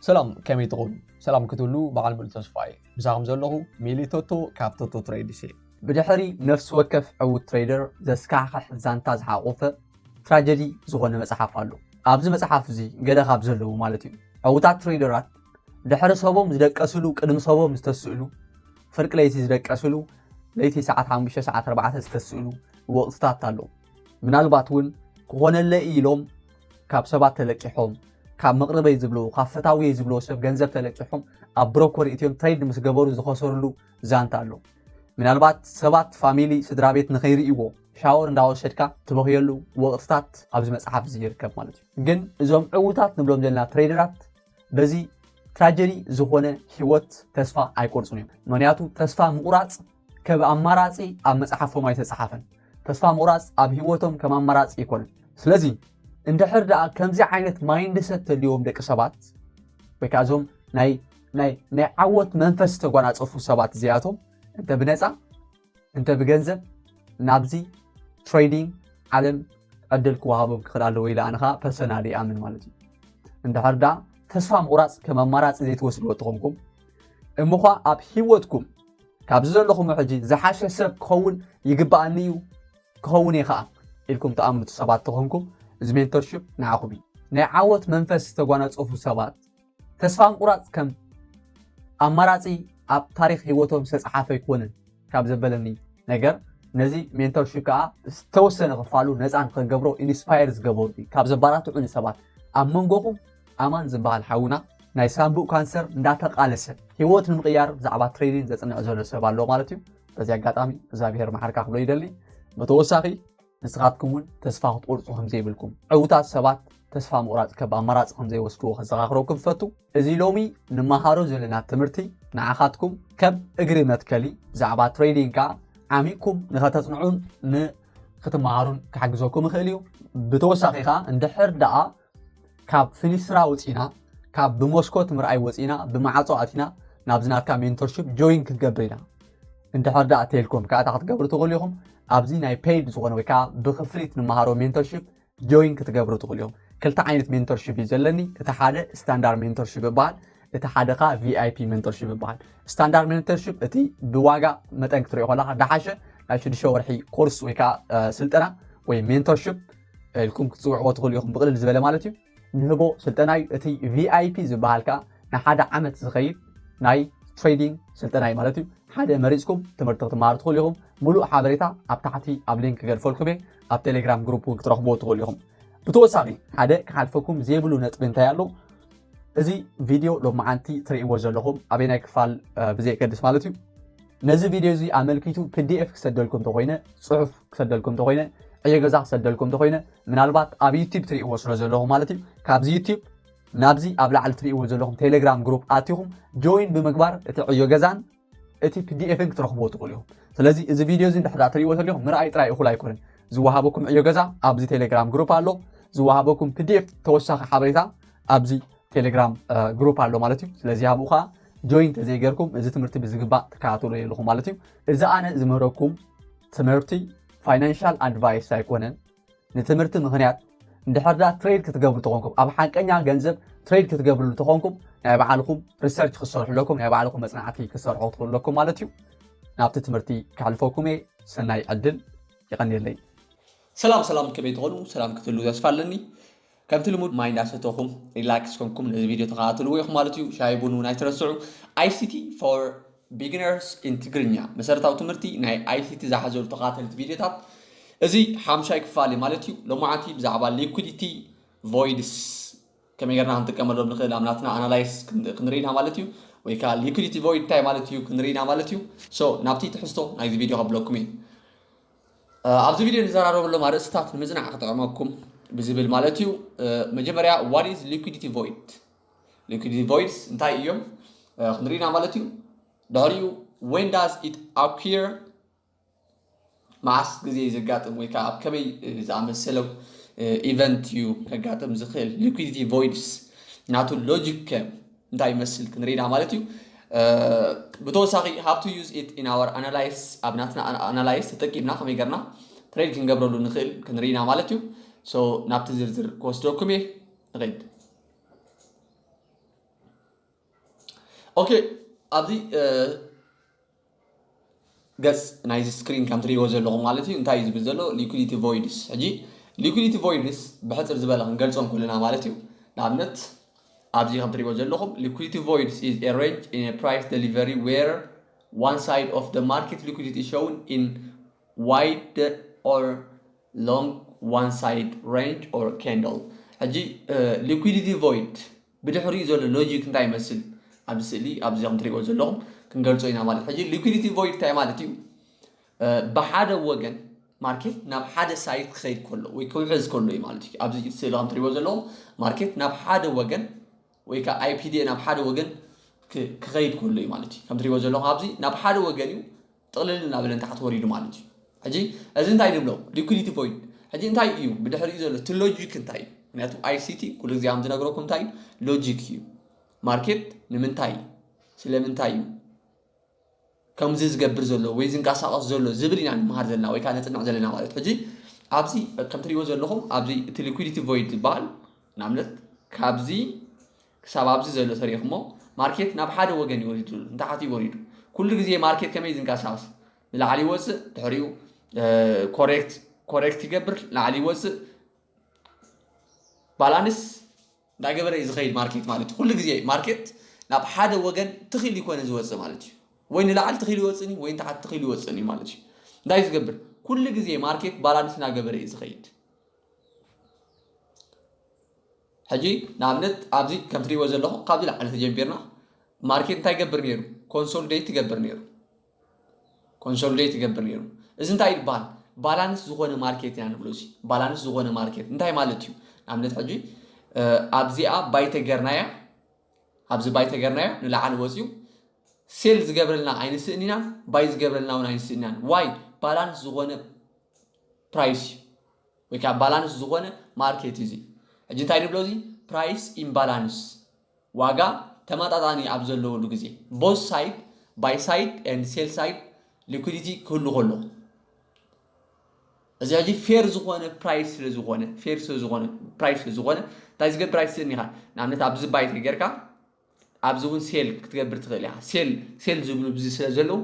ሰላም ከመይ ትኾኑ ሰላም ክትብሉ በዓል ሙሉ ተስፋ እየ ምሳኹም ዘለኹ ሚሊ ቶቶ ካብ ቶቶ ትሬድስ እየ ብድሕሪ ነፍሲ ወከፍ ዕውት ትሬደር ዘስካሕክሕ ዛንታ ዝሓቆፈ ትራጀዲ ዝኾነ መፅሓፍ ኣሎ ኣብዚ መፅሓፍ እዚ ገለ ካብ ዘለዉ ማለት እዩ ዕውታት ትሬደራት ድሕሪ ሰቦም ዝደቀስሉ ቅድሚ ሰቦም ዝተስእሉ ፍርቂ ለይቲ ዝደቀስሉ ለይቲ ሰዓት 5 ሰዓት 4 ዝተስእሉ ወቕትታት ኣሎ ምናልባት እውን ክኾነለ ኢሎም ካብ ሰባት ተለቂሖም ካብ መቕርበይ ዝብልዎ ካብ ፈታውየይ ዝብልዎ ሰብ ገንዘብ ተለቂሖም ኣብ ብሮኮር እትዮም ትሬድ ምስ ገበሩ ዝኸሰርሉ ዛንታ ኣሎ ምናልባት ሰባት ፋሚሊ ስድራ ቤት ንኸይርእይዎ ሻወር እንዳወሰድካ ትበኽየሉ ወቕትታት ኣብዚ መፅሓፍ እዚ ይርከብ ማለት እዩ ግን እዞም ዕውታት ንብሎም ዘለና ትሬደራት በዚ ትራጀዲ ዝኾነ ህይወት ተስፋ ኣይቆርፁን እዮም ምክንያቱ ተስፋ ምቑራፅ ከብ ኣማራጺ ኣብ መጽሓፎም ኣይተጸሓፈን። ተስፋ ምቑራጽ ኣብ ህይወቶም ከም ኣማራጺ ኣይኮነን። ስለዚ እንድሕር ደኣ ከምዚ ዓይነት ማይንድ ሰት ተልዎም ደቂ ሰባት ወይ ከዓ እዞም ናይ ናይ ናይ ዓወት መንፈስ ዝተጓናፀፉ ሰባት እዚኣቶም እንተ ብነፃ እንተ ብገንዘብ ናብዚ ትሬዲንግ ዓለም ዕድል ክወሃቦም ክኽእል ኣለዎ ኢለ ኣነ ከዓ ፐርሰናል ይኣምን ማለት እዩ እንድሕር ደኣ ተስፋ ምቑራፅ ከም ኣማራፂ ዘይትወስድዎ ተኾንኩም እምዃ ኣብ ሂወትኩም ካብዚ ዘለኹሞ ሕጂ ዝሓሸ ሰብ ክኸውን ይግብኣኒ እዩ ክኸውን እየ ኸኣ ኢልኩም ትኣምኑት ሰባት ተኾንኩም እዚ ሜንቶርሽፕ ንዓኹም እዩ ናይ ዓወት መንፈስ ዝተጓናጸፉ ሰባት ተስፋ ምቁራጽ ከም ኣማራጺ ኣብ ታሪክ ህይወቶም ዝተፅሓፈ ኣይኮነን ካብ ዘበለኒ ነገር ነዚ ሜንቶርሽፕ ከዓ ዝተወሰነ ክፋሉ ነፃን ከገብሮ ኢንስፓየር ዝገበሩ ካብ ዘባራትዑኒ ሰባት ኣብ መንጎኹም ኣማን ዝብሃል ሓውና ናይ ሳንቡእ ካንሰር እንዳተቃለሰ ሂወት ንምቅያር ብዛዕባ ትሬኒን ዘጽንዕ ዘሎ ሰብ ኣሎ ማለት እዩ በዚ ኣጋጣሚ እግዚኣብሄር መሓርካ ክብሎ ይደሊ ብተወሳኺ ንስኻትኩም እውን ተስፋ ክትቆርጹ ከምዘይብልኩም ዕውታት ሰባት ተስፋ ምቑራጽ ከብ ኣማራጺ ከምዘይወስድዎ ከዘኻኽረኩም ዝፈቱ እዚ ሎሚ ንመሃሮ ዘለና ትምህርቲ ንዓኻትኩም ከም እግሪ መትከሊ ብዛዕባ ትሬዲንግ ከዓ ዓሚቕኩም ንኸተጽንዑን ንክትመሃሩን ክሓግዘኩም ይኽእል እዩ ብተወሳኺ ከዓ እንድሕር ደኣ ካብ ፍኒስትራ ውጺና ካብ ብመስኮት ምርኣይ ወጺና ብማዓጾ ኣቲና ናብዚ ናትካ ሜንቶርሺፕ ጆይን ክትገብር ኢና እንድሕር ደኣ ቴልኮም ከዓ እታ ክትገብሩ ትኽእሉ ኢኹም ኣብዚ ናይ ፔይድ ዝኾነ ወይ ከዓ ብክፍሊት ንመሃሮ ሜንቶርሺፕ ጆይን ክትገብሩ ትኽእሉ እዮም ክልተ ዓይነት ሜንቶርሺፕ እዩ ዘለኒ እቲ ሓደ ስታንዳርድ ሜንቶርሺፕ ይበሃል እቲ ሓደ ከዓ ቪይፒ ሜንቶርሺፕ ይበሃል ስታንዳርድ ሜንቶርሺፕ እቲ ብዋጋ መጠን ክትሪኦ ከለካ ዳሓሸ ናይ ሽዱሽተ ወርሒ ኮርስ ወይ ከዓ ስልጠና ወይ ሜንቶርሺፕ ኢልኩም ክትፅውዕዎ ትኽእሉ ኢኹም ብቕልል ዝበለ ማለት እዩ ንህቦ ስልጠና እዩ እቲ ቪኣይፒ ዝበሃል ከዓ ንሓደ ዓመት ዝኸይድ ናይ ትሬዲንግ ስልጠና እዩ ማለት እዩ ሓደ መሪፅኩም ትምህርቲ ክትመሃሩ ትኽእሉ ኢኹም ሙሉእ ሓበሬታ ኣብ ታሕቲ ኣብ ሊንክ ክገድፈልኩም እየ ኣብ ቴሌግራም ግሩፕ እውን ክትረኽብዎ ትኽእሉ ኢኹም ብተወሳኺ ሓደ ክሓልፈኩም ዘይብሉ ነጥቢ እንታይ ኣሎ እዚ ቪድዮ ሎመዓንቲ ትርእይዎ ዘለኹም ኣበይ ናይ ክፋል ብዘየገድስ ማለት እዩ ነዚ ቪድዮ እዚ ኣመልኪቱ ፒዲኤፍ ክሰደልኩም እንተኾይነ ጽሑፍ ክሰደልኩም እንተኾይነ ዕዮ ገዛ ክሰደልኩም እንተኾይነ ምናልባት ኣብ ዩቲብ ትርእይዎ ስለ ዘለኹም ማለት እዩ ካብዚ ዩቲብ ናብዚ ኣብ ላዕሊ ትርእይዎ ዘለኹም ቴሌግራም ግሩፕ ኣትኹም ጆይን ብምግባር እቲ ዕዮ ገዛን እቲ ፒዲኤፍን ክትረኽብዎ ትኽእሉ ኢኹም ስለዚ እዚ ቪድዮ እዚ እንድሕዳ ትርእይዎ ተሊኹም ምርኣይ ጥራይ እኹል ኣይኮነን ዝወሃበኩም ዕዮ ገዛ ኣብዚ ቴሌግራም ግሩፕ ኣሎ ዝወሃበኩም ፒዲኤፍ ተወሳኺ ሓበሬታ ኣብዚ ቴሌግራም ግሩፕ ኣሎ ማለት እዩ ስለዚ ኣብኡ ከዓ ጆይን ተዘይገርኩም እዚ ትምህርቲ ብዝግባእ ትከታተሉ የለኹም ማለት እዩ። እዚ ኣነ ዝምህረኩም ትምህርቲ ፋይናንሻል ኣድቫይስ ኣይኮነን። ንትምህርቲ ምክንያት እንድሕር ዳ ትሬድ ክትገብሩ ተኾንኩም ኣብ ሓቀኛ ገንዘብ ትሬድ ክትገብርሉ ተኾንኩም ናይ ባዕልኹም ሪሰርች ክሰርሑ ኣለኩም ናይ ባዕልኹም መፅናዕቲ ክሰርሑ ክትኽእሉ ኣለኩም ማለት እዩ። ናብቲ ትምህርቲ ከሕልፈኩም እየ። ሰናይ ዕድል ይቐንየለይ። ሰላም ሰላም ከመይ ትኾኑ ሰላም ክትህሉ ተስፋ ኣለኒ። ከምቲ ልሙድ ማይ እንዳሰተኹም ሪላክስ ኮንኩም ነዚ ቪድዮ ተኸታተልዎ ኢኹም ማለት እዩ። ሻሂ ቡን እውን ኣይትረስዑ። ICT for Beginners in ትግርኛ መሰረታዊ ትምህርቲ ናይ ICT ዝሓዘሉ ተኸታተልቲ ቪድዮታት እዚ ሓምሻይ ክፋል እዩ ማለት እዩ። ሎማዓንቲ ብዛዕባ ሊኩዲቲ ቮይድስ ከመይ ጌርና ክንጥቀመሎም ንኽእል ኣብ ናትና ኣናላይስ ክንርኢ ኢና ማለት እዩ። ወይ ከዓ ሊኩዲቲ ቮይድ እንታይ ማለት እዩ ክንርኢ ኢና ማለት እዩ። ሶ ናብቲ ትሕዝቶ ናይዚ ቪድዮ ከብለኩም እየ። ኣብዚ ቪድዮ ንዘራረበሎም ኣርእስታት ንምጽናዕ ክጠቕመኩም ብዝብል ማለት እዩ። መጀመርያ ዋት ኢዝ ሊኩዲቲ ቮይድ ሊኩዲቲ ቮይድስ እንታይ እዮም ክንርኢና ማለት እዩ። ድሕሪኡ ዌን ዳዝ ኢት ኣኩር መዓስ ግዜ እዩ ዘጋጥም ወይ ከዓ ኣብ ከመይ ዝኣመሰለው ኢቨንት እዩ ከጋጥም ዝኽእል ሊኩዲቲ ቮይድስ ናቱ ሎጂክ እንታይ ይመስል ክንርኢ ኢና ማለት እዩ። ብተወሳኺ ሃብ ቱ ዩዝ ኢት ኢን ኣወር ኣናላይስ ኣብ ናትና ኣናላይስ ተጠቂምና ከመይ ገርና ትሬድ ክንገብረሉ ንኽእል ክንርኢ ኢና ማለት እዩ። ሶ ናብቲ ዝርዝር ክወስደኩም እየ ንኸይድ። ኦኬ ኣብዚ ገጽ ናይዚ ስክሪን ከም ትርእይዎ ዘለኹም ማለት እዩ እንታይ እዩ ዝብል ዘሎ ሊኩዲቲ ቮይድስ ሕጂ ሊኩዲቲ ቮይድስ ብሕጽር ዝበለ ክንገልጾም ኩልና ማለት እዩ ንኣብነት ኣብዚ ከም ትርእይዎ ዘለኹም ሊኩዲቲ ቮይድስ ኢዝ ኤ ሬንጅ ኢን ኤ ፕራይስ ደሊቨሪ ዌር ዋን ሳይድ ኦፍ ደ ማርኬት ሊኩዲቲ ሾውን ኢን ዋይድ ኦር ሎንግ ዋን ሳይድ ሬንጅ ኦር ካንደል ሕጂ ሊኩዲቲ ቮይድ ብድሕሪኡ ዘሎ ሎጂክ እንታይ ይመስል ኣብዚ ስእሊ ኣብዚ ከም ትሪእዎ ዘለኹም ክንገልጾ ኢና ማለት ሕጂ ሊኩዲቲ ቮይድ እንታይ ማለት እዩ ብሓደ ወገን ማርኬት ናብ ሓደ ሳይት ክኸይድ ከሎ ወይ ክውሕዝ ከሎ እዩ ማለት እዩ ኣብዚ ስእሊ ከም ትሪእዎ ዘለኹም ማርኬት ናብ ሓደ ወገን ወይ ከዓ ኣይፒዲኤ ናብ ሓደ ወገን ክኸይድ ከሎ እዩ ማለት እዩ ከም ትሪእዎ ዘለኹም ኣብዚ ናብ ሓደ ወገን እዩ ጥቕልል እናበለ ንታሕቲ ወሪዱ ማለት እዩ። ሕጂ እዚ እንታይ ንብሎ ሊኩዲቲ ቮይድ ሕጂ እንታይ እዩ ብድሕሪኡ ዘሎ እቲ ሎጂክ እንታይ እዩ? ምክንያቱ ኣይሲቲ ኩሉ ግዜ ከም ዝነግረኩም እንታይ እዩ ሎጂክ እዩ ማርኬት ንምንታይ ስለምንታይ እዩ ከምዚ ዝገብር ዘሎ ወይ ዝንቀሳቐስ ዘሎ ዝብል ኢና ንምሃር ዘለና ወይ ከዓ ነፅንዕ ዘለና ማለት ሕጂ ኣብዚ ከም ትሪእዎ ዘለኹም ኣብዚ እቲ ሊኩዲቲ ቮይድ ዝበሃል ንኣብነት ካብዚ ክሳብ ኣብዚ ዘሎ ተሪኽሞ ማርኬት ናብ ሓደ ወገን እዩ ወሪዱ ዘሎ ንታሕት እዩ ወሪዱ ኩሉ ግዜ ማርኬት ከመይ እዩ ዝንቀሳቀስ ንላዕሊ ይወፅእ ድሕሪኡ ኮሬክት ኮሬክት ይገብር ላዕሊ ይወፅእ ባላንስ እንዳገበረ እዩ ዝኸይድ ማርኬት ማለት እዩ ኩሉ ግዜ ማርኬት ናብ ሓደ ወገን ትኽኢሉ ይኮነ ዝወፅእ ማለት እዩ ወይ ንላዕሊ ትኽኢሉ ይወፅእን እዩ ወይ ንታሕቲ ትኽኢሉ ይወፅእን እዩ ማለት እዩ እንታይ እዩ ዝገብር ኩሉ ግዜ ማርኬት ባላንስ እናገበረ እዩ ዝኸይድ ሕጂ ንኣብነት ኣብዚ ከም ትሪእዎ ዘለኹም ካብዚ ላዕሊ ተጀሚርና ማርኬት እንታይ ይገብር ነይሩ ኮንሶሊዴት ይገብር ነይሩ ኮንሶሊዴት ይገብር ነይሩ እዚ እንታይ ይባሃል ባላንስ ዝኾነ ማርኬት ኢና ንብሎ እዚ ባላንስ ዝኾነ ማርኬት እንታይ ማለት እዩ ንኣብነት ሕጂ ኣብዚኣ ባይተ ገርናያ ኣብዚ ባይተ ገርናዮ ንላዕሊ ወፅዩ ሴል ዝገብረልና ኣይንስእን ኢና ባይ ዝገብረልና እውን ኣይንስእን ኢና ዋይ ባላንስ ዝኾነ ፕራይስ እዩ ወይ ከኣ ባላንስ ዝኾነ ማርኬት እዩ እዚ። ሕጂ እንታይ ንብሎ እዚ ፕራይስ ኢምባላንስ፣ ዋጋ ተመጣጣኒ ኣብ ዘለወሉ ግዜ፣ both side buy side and sell side liquidity ክህሉ ከሎ፣ እዚ ሕጂ ፌር ዝኾነ ፕራይስ ስለ ዝኾነ፣ ፌር ስለ ዝኾነ ፕራይስ ስለ ዝኾነ እንታይ ዝገብር ኣይትስእን ኢኻ። ንኣብነት ኣብዚ ባይ ተጌርካ ኣብዚ እውን ሴል ክትገብር ትኽእል ኢኻ። ሴል ሴል ዝብሉ ብዚ ስለ ዘለዉ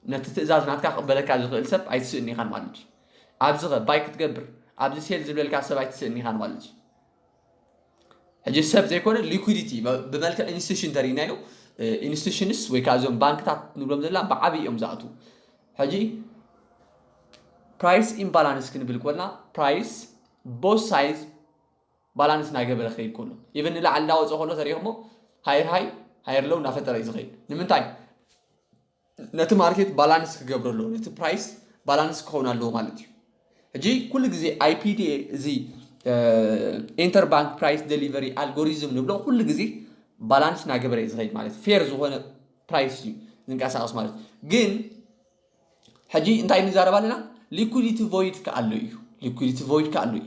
ነቲ ትእዛዝ ናትካ ክቕበለካ ዝኽእል ሰብ ኣይትስእን ኢኻን ማለት እዩ። ኣብዚ ኸ ባይ ክትገብር ኣብዚ ሴል ዝብለልካ ሰብ ኣይትስእን ኢኻን ማለት እዩ። ሕጂ ሰብ ዘይኮነ ሊኩዲቲ ብመልክዕ ኢንስቲቱሽን ተሪእናዮ ኢንስቲቱሽንስ ወይ ከዓ እዞም ባንክታት ንብሎም ዘላ ብዓብዪ እዮም ዝኣትዉ ሕጂ ፕራይስ ኢምባላንስ ክንብል ኮልና ፕራይስ ቦስ ሳይዝ ባላንስ ናገበረ ክከይድ ከሎ ኢቨን ንላዕሊ እንዳወፀ ከሎ ተሪኢክሞ ሃየር ሃይ ሃየር ሎው እንዳፈጠረ እዩ ዝከይድ ንምንታይ ነቲ ማርኬት ባላንስ ክገብረ ኣለዎ ነቲ ፕራይስ ባላንስ ክኸውን ኣለዎ ማለት እዩ ሕጂ ኩሉ ግዜ ኣይፒዲኤ እዚ ኢንተር ባንክ ፕራይስ ደሊቨሪ ኣልጎሪዝም ንብሎ ኩሉ ግዜ ባላንስ ናገበረ እዩ ዝኸይድ ማለት ፌር ዝኾነ ፕራይስ እዩ ዝንቀሳቀስ ማለት ግን ሕጂ እንታይ ንዛረብ ኣለና ሊኩዲቲ ቮይድ ከኣሎ እዩ ሊኩዲቲ ቮይድ ከኣሎ እዩ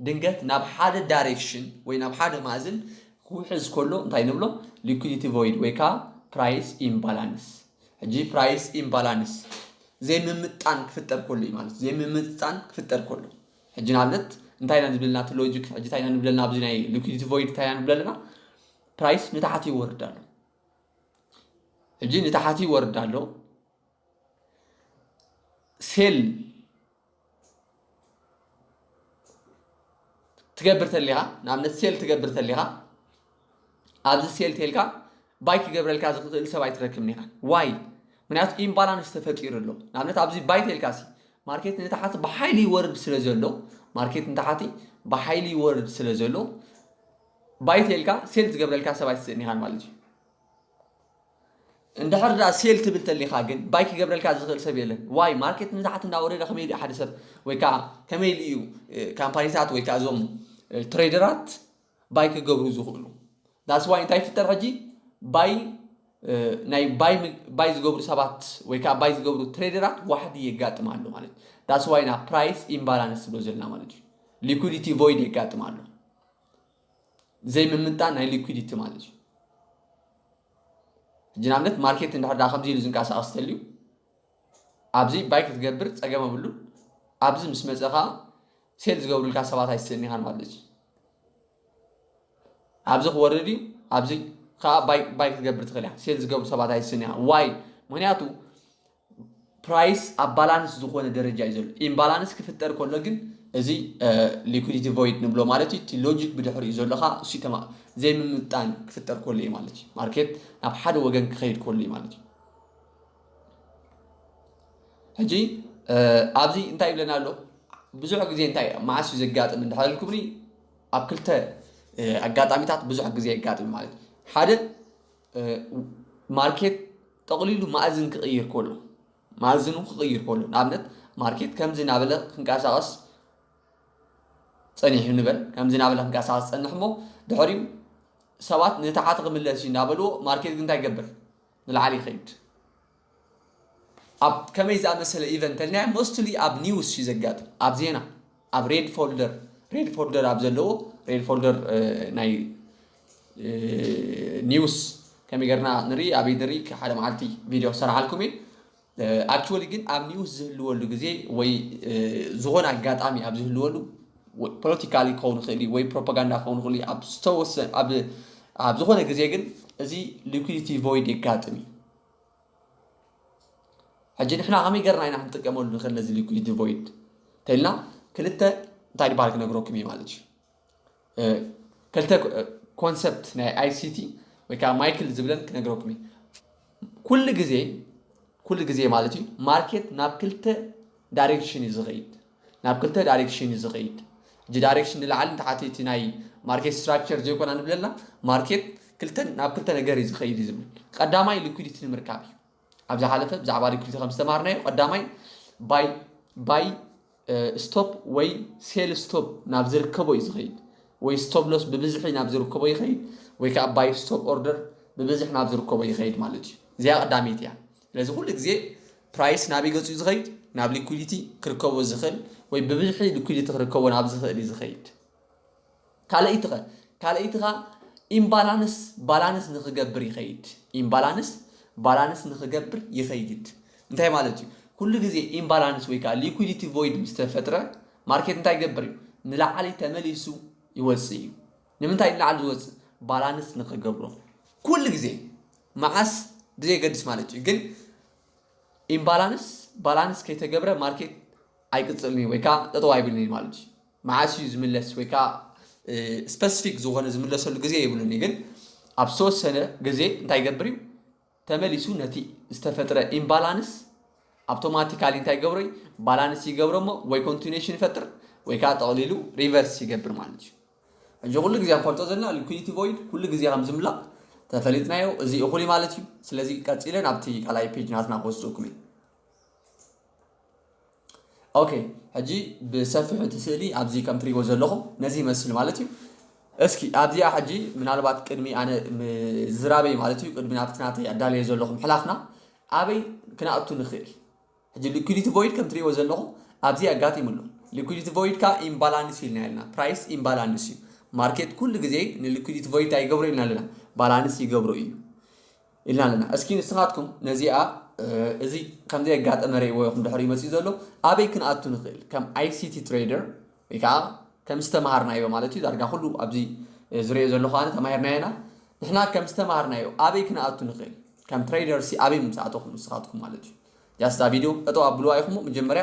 ድንገት ናብ ሓደ ዳይሬክሽን ወይ ናብ ሓደ ማእዝን ክውሕዝ ከሎ እንታይ ንብሎ? ሊኩዲቲ ቮይድ ወይ ከኣ ፕራይስ ኢምባላንስ። ሕጂ ፕራይስ ኢምባላንስ ዘይምምጥጣን ክፍጠር ከሎ እዩ ማለት ዘይምምጥጣን ክፍጠር ከሎ ሕጂ ንኣብነት እንታይ ኢና ንብለልና እቲ ሎጂክ ሕጂ እንታይ ኢና ንብለልና ኣብዚ ናይ ሊኩዲቲ ቮይድ እንታይ ኢና ንብለልና ፕራይስ ንታሕቲ ይወርድ ኣሎ ሕጂ ንታሕቲ ይወርድ ኣሎ ሴል ትገብር ተሊኻ ንኣብነት ሴል ትገብር ተሊኻ ኣብዚ ሴል ቴልካ ባይ ክገብረልካ ዝኽእል ሰብ ኣይትረክብን ኢኻ ዋይ ምክንያቱ ኢምባላንስ ተፈጢሩ ኣሎ ንኣብነት ኣብዚ ባይ ቴልካ ሲ ማርኬት ንታሓቲ ብሓይሊ ይወርድ ስለ ዘሎ ማርኬት ንታሓቲ ብሓይሊ ይወርድ ስለ ዘሎ ባይ ቴልካ ሴል ዝገብረልካ ሰብ ኣይትስእን ኢኻ ማለት እዩ እንድሕር ድኣ ሴል ትብል ተሊኻ ግን ባይ ክገብረልካ ዝኽእል ሰብ የለን። ዋይ ማርኬት ንታሕቲ እንዳወረደ ከመይ ድዩ ሓደ ሰብ ወይ ከዓ ከመይ ኢሉ እዩ ካምፓኒታት ወይ ከዓ እዞም ትሬደራት ባይ ክገብሩ ዝኽእሉ? ዳስ ዋይ እንታይ ይፍጠር ሕጂ ባይ ናይ ባይ ባይ ዝገብሩ ሰባት ወይ ከዓ ባይ ዝገብሩ ትሬደራት ዋሕዲ የጋጥም ኣሎ ማለት እዩ። ዳስ ዋይ ናብ ፕራይስ ኢምባላንስ ዝብሎ ዘለና ማለት እዩ። ሊኩዲቲ ቮይድ የጋጥም ኣሎ። ዘይምምንጣን ናይ ሊኩዲቲ ማለት እዩ ሕጂ ንኣብነት ማርኬት እንድሕር ዳ ከምዚ ኢሉ ዝንቀሳቐስ ተልዩ ኣብዚ ባይ ክትገብር ፀገም ኣብሉ ኣብዚ ምስ መፀ ከዓ ሴል ዝገብሩልካ ሰባት ኣይትስእን ኢኻን ማለት እዩ ኣብዚ ክወርድ እዩ ኣብዚ ከዓ ባይ ክትገብር ትኽእል ኢኻ ሴል ዝገብሩ ሰባት ኣይትስእን ኢኻ ዋይ ምክንያቱ ፕራይስ ኣብ ባላንስ ዝኾነ ደረጃ እዩ ዘሎ። ኢምባላንስ ክፍጠር ከሎ ግን እዚ ሊኩዲቲ ቮይድ ንብሎ ማለት እዩ። እቲ ሎጂክ ብድሕሪኡ ዘሎ ከዓ እሱ ተማ ዘይምምጣን ክፍጠር ከሎ እዩ ማለት እዩ። ማርኬት ናብ ሓደ ወገን ክኸይድ ከሎ እዩ ማለት እዩ። ሕጂ ኣብዚ እንታይ ይብለና ኣሎ? ብዙሕ ግዜ እንታይ መዓስ እዩ ዘጋጥም እንድሕር ኢልኩምኒ ኣብ ክልተ ኣጋጣሚታት ብዙሕ ግዜ የጋጥም ማለት እዩ። ሓደ ማርኬት ጠቕሊሉ ማእዝን ክቕይር ከሎ ማእዝኑ ክቕይር ከሎ ንኣብነት ማርኬት ከምዚ ናበለ ክንቀሳቐስ ጸኒሑ ንበል ከምዚ ናበለ ክንቀሳቐስ ጸንሕ እሞ ድሕሪኡ ሰባት ንታሓቲ ክምለስ እዩ እናበልዎ ማርኬት ግን እንታይ ይገብር ንላዕሊ ይኸይድ ኣብ ከመይ ዝኣመሰለ ኢቨንት ተሊና ሞስትሊ ኣብ ኒውስ እዩ ዘጋጥም ኣብ ዜና ኣብ ሬድ ፎልደር ሬድ ፎልደር ኣብ ዘለዎ ሬድ ፎልደር ናይ ኒውስ ከመይ ገርና ንርኢ ኣበይ ንርኢ ሓደ መዓልቲ ቪድዮ ክሰርሓልኩም እዩ ኣክቹዋሊ ግን ኣብ ኒውስ ዝህልወሉ ግዜ ወይ ዝኾነ ኣጋጣሚ ኣብ ዝህልወሉ ፖለቲካሊ ክኸውን ይኽእል እዩ ወይ ፕሮፓጋንዳ ክኸውን ይኽእል እዩ ኣብ ዝተወሰ ኣብ ዝኾነ ግዜ ግን እዚ ሊኩዲቲ ቮይድ የጋጥም እዩ ሕጂ ንሕና ከመይ ገርና ኢና ክንጥቀመሉ ንኽእል ነዚ ሊኩዊድ ቮይድ እንተኢልና ክልተ እንታይ ድባል ክነግረኩም እዩ ማለት እዩ ክልተ ኮንሰፕት ናይ ኣይሲቲ ወይ ከዓ ማይክል ዝብለን ክነግረኩም እዩ ኩሉ ግዜ ኩሉ ግዜ ማለት እዩ ማርኬት ናብ ክልተ ዳይሬክሽን እዩ ዝኸይድ ናብ ክልተ ዳሬክሽን እዩ ዝኸይድ እጂ ዳሬክሽን ንላዕሊ ንታሕቲ እቲ ናይ ማርኬት ስትራክቸር ዘይኮና ንብለላ ማርኬት ክልተ ናብ ክልተ ነገር እዩ ዝኸይድ እዩ ዝብል ቀዳማይ ሊኩዲቲ ንምርካብ እዩ ኣብ ዝሓለፈ ብዛዕባ ሊኩዲቲ ከም ዝተማሃርናዮ ቀዳማይ ባይ ባይ ስቶፕ ወይ ሴል ስቶፕ ናብ ዝርከቦ እዩ ዝኸይድ ወይ ስቶፕ ሎስ ብብዝሒ ናብ ዝርከቦ ይኸይድ ወይ ከዓ ባይ ስቶፕ ኦርደር ብብዝሒ ናብ ዝርከቦ ይኸይድ ማለት እዩ እዚኣ ቀዳመይቲ እያ ስለዚ ኩሉ ግዜ ፕራይስ ናበይ ገጹ እዩ ዝኸይድ? ናብ ሊኩዲቲ ክርከቦ ዝኽእል ወይ ብብዝሒ ሊኩዲቲ ክርከቦ ናብ ዝኽእል እዩ ዝኸይድ። ካልኣይቲኸ? ካልኣይቲኻ ኢምባላንስ ባላንስ ንክገብር ይኸይድ። ኢምባላንስ ባላንስ ንክገብር ይኸይድ። እንታይ ማለት እዩ? ኩሉ ግዜ ኢምባላንስ ወይ ከዓ ሊኩዲቲ ቮይድ ምስ ተፈጥረ ማርኬት እንታይ ይገብር እዩ? ንላዕሊ ተመሊሱ ይወጽእ እዩ። ንምንታይ ንላዕሊ ዝወጽእ ባላንስ ንክገብሮ ኩሉ ግዜ መዓስ ብዘየገድስ ማለት እዩ ግን ኢምባላንስ ባላንስ ከይተገብረ ማርኬት ኣይቅጽልን እዩ ወይ ከዓ ጠጠው ኣይብልን እዩ ማለት እዩ መዓስ እዩ ዝምለስ ወይ ከዓ ስፐሲፊክ ዝኾነ ዝምለሰሉ ግዜ የብሉን እዩ ግን ኣብ ዝተወሰነ ግዜ እንታይ ይገብር እዩ ተመሊሱ ነቲ ዝተፈጥረ ኢምባላንስ ኣውቶማቲካሊ እንታይ ይገብሮ እዩ ባላንስ ይገብሮ እሞ ወይ ኮንቲኒሽን ይፈጥር ወይ ከዓ ጠቕሊሉ ሪቨርስ ይገብር ማለት እዩ ሕጂ ኩሉ ግዜ ንፈልጦ ዘለና ሊኩዲቲ ቮይድ ኩሉ ግዜ ከም ዝምላእ ተፈሊጥናዮ እዚ እኹል እዩ ማለት እዩ ስለዚ ቀጺለ ናብቲ ካልኣይ ፔጅ ናትና ክወስደኩም እዩ ኦኬ ሕጂ ብሰፊሑ እቲ ስእሊ ኣብዚ ከም ትሪእዎ ዘለኹም ነዚ ይመስል ማለት እዩ እስኪ ኣብዚኣ ሕጂ ምናልባት ቅድሚ ኣነ ዝራበይ ማለት እዩ ቅድሚ ናብቲ ናተይ ኣዳለየ ዘለኹም ሕላፍና ኣበይ ክነኣቱ ንኽእል ሕጂ ሊኲዲቲ ቮይድ ከም ትርእይዎ ዘለኹም ኣብዚ ኣጋጢሙ ኣሎ። ሊኲዲቲ ቮይድ ከኣ ኢምባላንስ ኢልና ኢልና። ፕራይስ ኢምባላንስ እዩ። ማርኬት ኩሉ ግዜ ንሊኲዲቲ ቮይድ እንታይ ይገብሮ ኢልና ኣለና? ባላንስ ይገብሮ እዩ ኢልና ኣለና። እስኪ ንስኻትኩም ነዚኣ እዚ ከም ዘየጋጠመ ርእይዎ ኢኹም ድሕሪኡ መጺኡ ዘሎ ኣበይ ክንኣቱ ንኽእል? ከም ኣይሲቲ ትሬደር ወይ ከኣ ከም ዝተማሃርናዮ ማለት እዩ ዳርጋ ኩሉ ኣብዚ ዝርእዮ ዘለኹ ኣነ ተማሂርናዮ ኢና። ንሕና ከም ዝተማሃርናዮ ኣበይ ክንኣቱ ንኽእል? ከም ትሬደርሲ ኣበይ ምምጻእተኹም ንስኻትኩም ማለት እዩ። ያስ እታ ቪድዮ ጠጠው ኣብልዋ ኢኹሞ መጀመርያ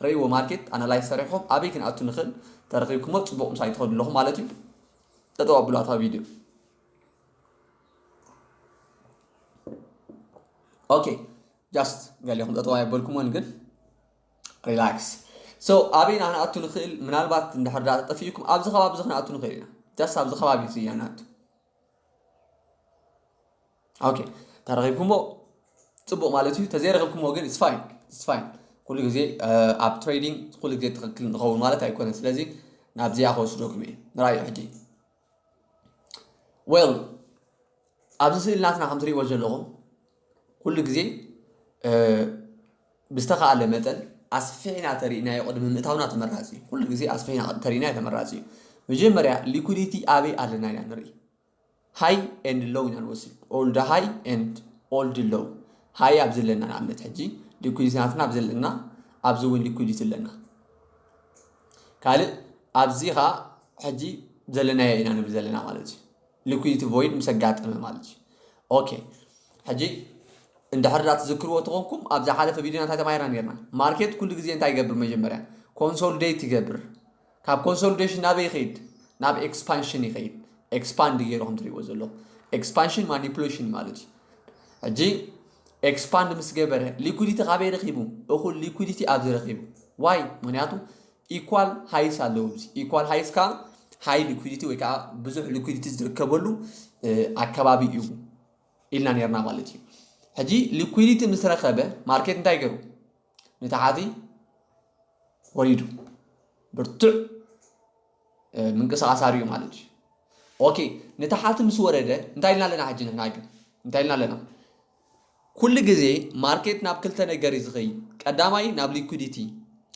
ረይዎ ማርኬት ኣናላይዝ ሰሪሕኹም ኣበይ ክንኣቱ ንኽእል ተረኺብኩሞ ፅቡቕ ምሳይ ትኸዱ ኣለኹም ማለት እዩ ጠጠው ኣብልዋ እታ ቪድዮ ኦኬ ጃስት ገሊኹም ጠጠው ኣየበልኩሞን ግን ሪላክስ ሶ ኣበይ ኢና ክንኣቱ ንኽእል ምናልባት እንድሕር ዳታ ጠፊኡኩም ኣብዚ ከባቢ እዚ ክንኣቱ ንኽእል ኢና ጃስት ኣብዚ ከባቢ እዚ ኢና ንኣቱ ኦኬ ተረኺብኩምዎ ፅቡቕ ማለት እዩ ተዘይረኺብኩምዎ ግን ስፋይን ስፋይን ኩሉ ግዜ ኣብ ትሬዲንግ ኩሉ ግዜ ትኽክል ንኸውን ማለት ኣይኮነን ስለዚ ናብዚኣ ክወስደኩም እየ ንራዩ ሕጂ ዌል ኣብዚ ስእሊ ናትና ከም ትሪእዎ ዘለኹም ኩሉ ግዜ ብዝተኻእለ መጠን ኣስፊሕና ተሪእናዮ ቅድሚ ምእታውና ተመራፂ እዩ። ኩሉ ግዜ ኣስፊሕና ተሪእናዮ ተመራፂ እዩ። መጀመርያ ሊኩዲቲ ኣበይ ኣለና ኢና ንርኢ። ሃይ ኤንድ ሎው ኢና ንወስድ። ኦልድ ሃይ ኤንድ ኦልድ ሎው። ሃይ ኣብ ዘለና ንኣብነት ሕጂ ሊኩዲቲ ናትና ኣብ ዘለና ኣብዚ እውን ሊኩዲቲ ኣለና። ካልእ ኣብዚ ከዓ ሕጂ ዘለናዮ ኢና ንብል ዘለና ማለት እዩ። ሊኩዲቲ ቮይድ ምስ ኣጋጠመ ማለት እዩ ኦኬ ሕጂ እንድሕር ዳ ትዝክርዎ ተኾንኩም ኣብ ዝሓለፈ ቪድዮ እንታይ ተማሂርና ነርና ማርኬት ኩሉ ግዜ እንታይ ይገብር መጀመርያ ኮንሶልዴት ይገብር ካብ ኮንሶልዴሽን ናበይ ይኸይድ ናብ ኤክስፓንሽን ይኸይድ ኤክስፓንድ ገይሩ ከም ትሪእዎ ዘለኹ ኤክስፓንሽን ማኒፕሌሽን ማለት እዩ ሕጂ ኤክስፓንድ ምስ ገበረ ሊኩዲቲ ካበይ ረኪቡ እኹል ሊኩዲቲ ኣብዚ ረኪቡ ዋይ ምክንያቱ ኢኳል ሃይስ ኣለዉ እዚ ኢኳል ሃይስ ከኣ ሃይ ሊኩዲቲ ወይ ከዓ ብዙሕ ሊኩዲቲ ዝርከበሉ ኣከባቢ እዩ ኢልና ነርና ማለት እዩ ሕጂ ሊኩዲቲ ምስ ረኸበ ማርኬት እንታይ ገሩ ንታሓቲ ወሪዱ ብርቱዕ ምንቅስቃስ ኣርዩ ማለት እዩ ኦኬ ንታሓቲ ምስ ወረደ እንታይ ኢልና ኣለና ሕጂ ንሕና ግን እንታይ ኢልና ኣለና ኩሉ ግዜ ማርኬት ናብ ክልተ ነገር እዩ ዝኸይድ ቀዳማይ ናብ ሊኩዲቲ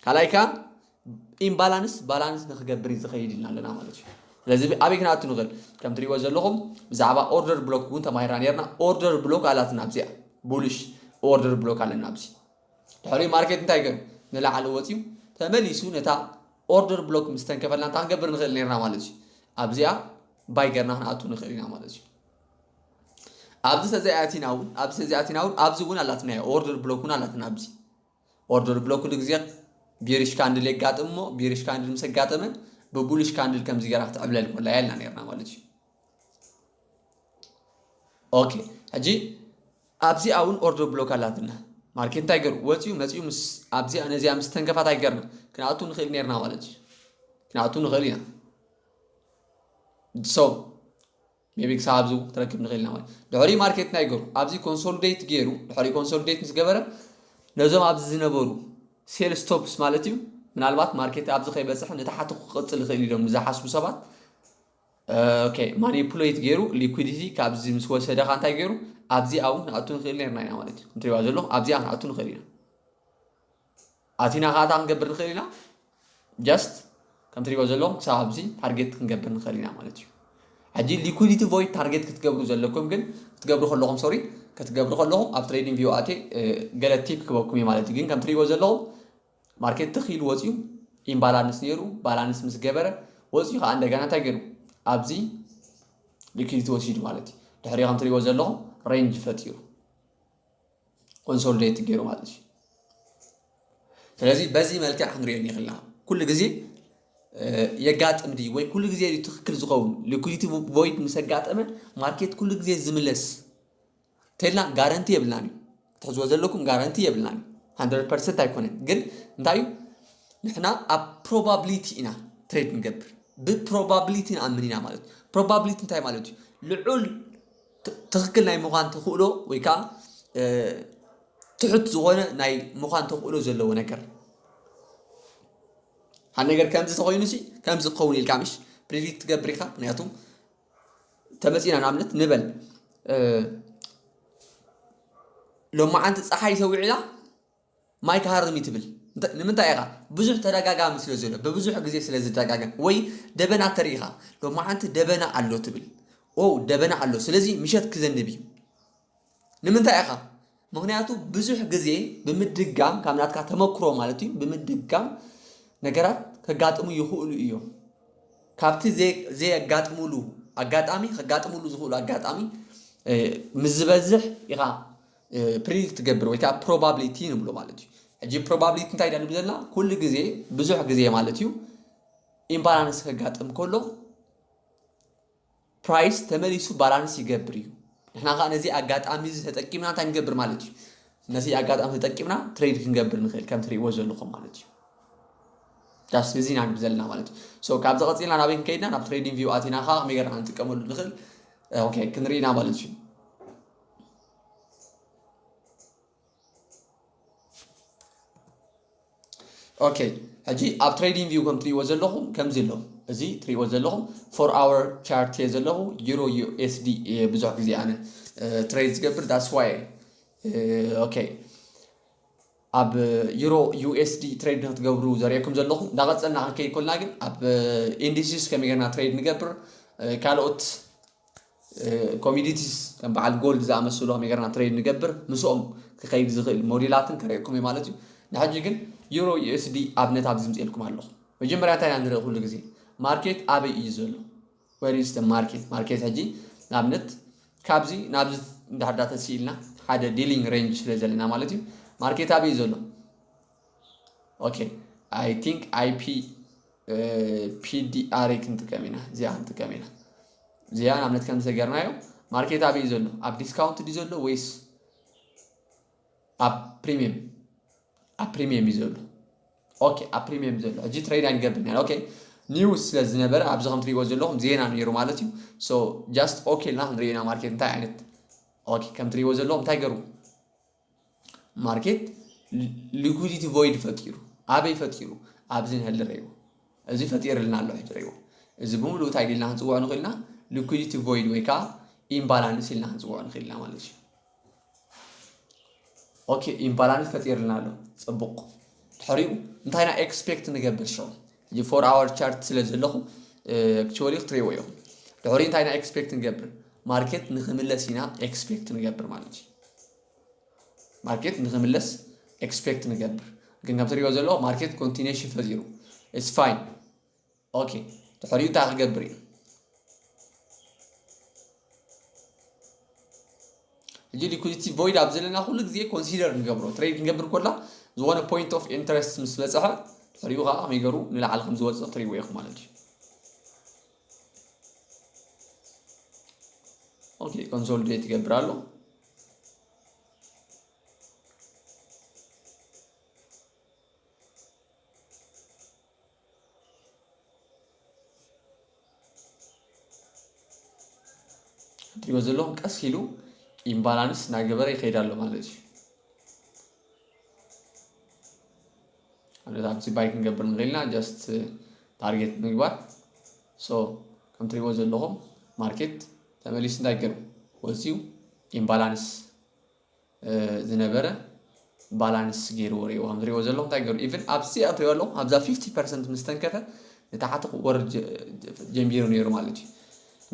ካልኣይ ከዓ ኢምባላንስ ባላንስ ንክገብር እዩ ዝኸይድ ኢልና ኣለና ማለት እዩ ስለዚ ኣበይ ክንኣቱ ንኽእል ከም ትሪእዎ ዘለኹም ብዛዕባ ኦርደር ብሎክ እውን ተማሂርና ነርና ኦርደር ብሎክ ኣላትና ኣብዚኣ ቡልሽ ኦርደር ብሎክ ኣለና ኣብዚ ድሕሪ ማርኬት እንታይ ገሩ ንላዕሊ ወፅዩ ተመሊሱ ነታ ኦርደር ብሎክ ምስ ተንከፈልና እንታይ ክንገብር ንኽእል ነርና ማለት እዩ ኣብዚኣ ባይ ገርና ክንኣቱ ንኽእል ኢና ማለት እዩ ኣብዚ ተዘይ ኣቲና እውን ኣብዚ ተዘይ ኣቲና እውን ኣብዚ እውን ኣላትናዮ ኦርደር ብሎክ እውን ኣላትና ኣብዚ ኦርደር ብሎክ ኩሉ ግዜ ቢሪሽ ካንድል የጋጥም እሞ ቢሪሽ ካንድል ምስ ኣጋጠመ ብቡሉሽ ካንድል ከምዚ ገይራ ክትዕብለል ኮላ ያልና ነርና ማለት እዩ ኦኬ ሕጂ ኣብዚኣ እውን ኦርደር ብሎክ ኣላትና ማርኬት እንታይ ገሩ ወፅዩ መፅዩ ምስ ኣብዚኣ ነዚኣ ምስ ተንከፋ እንታይ ገርና ክንኣቱ ንኽእል ነርና ማለት እዩ ክንኣቱ ንኽእል ኢና ሰው ሜቢ ክሳብ ኣብዚ እውን ክትረክብ ንክእል ኢና ማለት ድሕሪኡ ማርኬት እንታይ ገሩ ኣብዚ ኮንሶሊዴት ገሩ ድሕሪኡ ኮንሶሊዴት ምስ ገበረ ነዞም ኣብዚ ዝነበሩ ሴል ስቶፕስ ማለት እዩ ምናልባት ማርኬት ኣብዚ ከይበፅሐ ንታሓቲ ክቅፅል ይኽእል ኢሎም ንዝሓስቡ ሰባት ኦኬ ማኒፑሌት ገሩ ሊኩዲቲ ካብዚ ምስ ወሰደ ካ እንታይ ገሩ ኣብዚኣ እውን ንኣቱ ንክእል ነርና ኢና ማለት እዩ እንትሪዋ ዘለኹም ኣብዚኣ ክንኣቱ ንክእል ኢና ኣቲና ከኣ እንታይ ክንገብር ንኽእል ኢና ጀስት ከም ትሪእዎ ዘለኹም ክሳብ ኣብዚ ታርጌት ክንገብር ንኽእል ኢና ማለት እዩ ሕጂ ሊኩዲቲ ቮይድ ታርጌት ክትገብሩ ዘለኩም ግን ክትገብሩ ከለኹም ሶሪ ክትገብሩ ከለኹም ኣብ ትሬዲንግ ቪው ኣቴ ገለ ቲፕ ክበኩም እዩ ማለት እዩ ግን ከም ትሪእዎ ዘለኹም ማርኬት ትኽ ኢሉ ወፂኡ ኢምባላንስ ነይሩ ባላንስ ምስ ገበረ ወፂኡ ከዓ እንደገና እንታይ ገይሩ ኣብዚ ሊኩዲቲ ወሲዱ ማለት እዩ ድሕሪ ከም ትሪእዎ ዘለኹም ሬንጅ ፈጢሩ ኮንሶልዴት ገይሩ ማለት እዩ ስለዚ በዚ መልክዕ ክንሪኦ ንኽእልና ኩሉ ግዜ የጋጥም ድዩ ወይ ኩሉ ግዜ እዩ ትክክል ዝኸውን ሊኩዲቲ ቮይድ ምስ ኣጋጠመ ማርኬት ኩሉ ግዜ ዝምለስ ተልና ጋረንቲ የብልናን እዩ ትሕዝዎ ዘለኩም ጋረንቲ የብልናን ሃንድረድ ፐርሰንት ኣይኮነን ግን እንታይ እዩ ንሕና ኣብ ፕሮባብሊቲ ኢና ትሬድ ንገብር ብፕሮባብሊቲ ንኣምን ኢና ማለት እዩ ፕሮባብሊቲ እንታይ ማለት እዩ ልዑል ትኽክል ናይ ምዃን ተኽእሎ ወይ ከዓ ትሑት ዝኾነ ናይ ምዃን ተኽእሎ ዘለዎ ነገር ሓደ ነገር ከምዚ ተኮይኑ ሲ ከምዚ ክኸውን ኢልካ ምሽ ፕሬዲክት ትገብር ኢኻ ምክንያቱ ተመፂና ንኣብነት ንበል ሎማዓንቲ ፀሓይ ሰዊዕላ ማይ ክሃርም እዩ ትብል እንተ ንምንታይ ኢኻ ብዙሕ ተደጋጋሚ ስለ ዘሎ ብብዙሕ ግዜ ስለ ዝደጋገም ወይ ደበና ተሪኢኻ ሎማዓንቲ ደበና ኣሎ ትብል ኦው ደበና ኣሎ ስለዚ ምሸት ክዘንብ እዩ ንምንታይ ኢኻ ምክንያቱ ብዙሕ ግዜ ብምድጋም ካብ ናትካ ተመክሮ ማለት እዩ ብምድጋም ነገራት ከጋጥሙ ይኽእሉ እዮም ካብቲ ዘየጋጥሙሉ ኣጋጣሚ ከጋጥሙሉ ዝኽእሉ ኣጋጣሚ ምስ ዝበዝሕ ኢኻ ፕሪዲክት ትገብር ወይ ከዓ ፕሮባብሊቲ ንብሎ ማለት እዩ ሕጂ ፕሮባብሊቲ እንታይ ኢና ንብል ዘለና ኩሉ ግዜ ብዙሕ ግዜ ማለት እዩ ኢምባላንስ ከጋጥም ከሎ ፕራይስ ተመሊሱ ባላንስ ይገብር እዩ ንሕና ከዓ ነዚ ኣጋጣሚ እዚ ተጠቂምና እንታይ ንገብር ማለት እዩ ነዚ ኣጋጣሚ ተጠቂምና ትሬድ ክንገብር ንኽእል ከም ትሪእዎ ዘለኹም ማለት እዩ ዳስ እዚ ኢና ንብል ዘለና ማለት እዩ ሶ ካብዚ ቀፂልና ናበይ ክንከይድና ናብ ትሬዲንግ ቪው ኣቲና ከዓ ከመይ ገርና ንጥቀመሉ ንኽእል ኦኬ ክንርኢና ማለት እዩ ኦኬ ሕጂ ኣብ ትሬዲንግ ቪው ከም ትሪእዎ ዘለኹም ከምዚ ኣሎ እዚ ትሪእዎ ዘለኹም ፎር ኣወር ቻርት እየ ዘለኹ ዩሮ ዩኤስዲ እየ ብዙሕ ግዜ ኣነ ትሬድ ዝገብር ዳስ ዋይ ኦኬ ኣብ ዩሮ USD ትሬድ ንክትገብሩ ዘርእየኩም ዘለኹ እንዳቀጸልና ክንከይድ ኮልና ግን ኣብ ኢንዲሲስ ከመይ ጌርና ትሬድ ንገብር ካልኦት ኮሚዲቲስ ከም በዓል ጎልድ ዝኣመስሉ ከመይ ጌርና ትሬድ ንገብር ምስኦም ክኸይድ ዝኽእል ሞዴላትን ከርእየኩም እዩ ማለት እዩ ንሕጂ ግን ዩሮ USD ኣብነት ኣብዚ ምጽኤልኩም ኣለኹ መጀመርያ እንታይ ኢና ንርኢ ኩሉ ግዜ ማርኬት ኣበይ እዩ ዘሎ where is the market ማርኬት ሕጂ ንኣብነት ካብዚ ናብዚ እንድሕር ዳ ተሲኢልና ሓደ ዲሊንግ ሬንጅ ስለ ዘለና ማለት እዩ ማርኬት ኣበይ እዩ ዘሎ ኦኬ ኣይ ቲንክ ኣይፒ ፒዲኣር ክንጥቀም ኢና እዚኣ ክንጥቀም ኢና እዚኣ ንኣብነት ከም ዝሰገርናዮ ማርኬት ኣበይ እዩ ዘሎ ኣብ ዲስካውንት ድዩ ዘሎ ወይስ ኣብ ፕሪሚየም ኣብ ፕሪሚየም እዩ ዘሎ ኦኬ ኣብ ፕሪሚየም ዘሎ ሕጂ ትሬድ ኣይንገብርን ኢና ኦኬ ኒውስ ስለ ዝነበረ ኣብዚ ከም ትሪእዎ ዘለኹም ዜና ነይሩ ማለት እዩ ሶ ጃስት ኦኬ ኢልና ክንሪኦ ኢና ማርኬት እንታይ ዓይነት ኦኬ ከም ትሪእዎ ዘለኹም እንታይ ገሩ ማርኬት ሊኩዲቲ ቮይድ ፈጢሩ ኣበይ ፈጢሩ ኣብዚ ንህሊ ረይዎ እዚ ፈጢርልና ኣሎ ሕጂ ረይዎ እዚ ብምሉእ እንታይ ኢልና ክንፅውዖ ንኽእልና ሊኩዲቲ ቮይድ ወይ ከዓ ኢምባላንስ ኢልና ክንፅውዖ ንኽእልና ማለት እዩ ኦኬ ኢምባላንስ ፈጢርልና ኣሎ ጽቡቅ ድሕሪኡ እንታይ ና ኤክስፔክት ንገብር ሸው እዚ ፎር ኣወር ቻርት ስለ ዘለኹ ኣክቹዋሊ ክትሪእዎ ኢኹም ድሕሪ እንታይ ኢና ኤክስፔክት ንገብር ማርኬት ንክምለስ ኢና ኤክስፔክት ንገብር ማለት እዩ ማርኬት ንክምለስ ኤክስፔክት ንገብር ግን ከም ትሪኦ ዘለዎ ማርኬት ኮንቲኔሽን ፈጢሩ ኢትስ ፋይን ኦኬ ድሕሪኡ እንታይ ክገብር እዩ ሕጂ ሊኩዲቲ ቮይድ ኣብ ዘለና ኩሉ ግዜ ኮንሲደር ንገብሮ ትሬድ ክንገብር ኮላ ዝኾነ ፖይንት ኦፍ ኢንተረስት ምስ በፅሐ ድሕሪኡ ከዓ ከመይ ገሩ ንላዕሊ ከም ዝወፅእ ትሪእዎ ኢኹም ማለት እዩ ኦኬ ኮንሶሊዴት ይገብር ኣሎ እትሪእዎ ዘለኹም ቀስ ኢሉ ኢምባላንስ እናገበረ ይኸይድ ኣሎ ማለት እዩ። ኣብነት ኣብቲ ባይ ክንገብር ንኽእል ኢና ጀስት ታርጌት ምግባር ሶ ከም እትሪእዎ ዘለኹም ማርኬት ተመሊሱ እንታይ ገይሩ ወፂኡ ኢምባላንስ ዝነበረ ባላንስ ገይርዎ ሪእዎ ከም ዝሪእዎ ዘለኹ እንታይ ገይሩ ኢቭን ኣብዚ ኣትሪኦ ኣለኹ ኣብዛ ፊፍቲ ፐርሰንት ምስ ተንከፈ ንታሕቲ ክወርድ ጀሚሩ ነይሩ ማለት እዩ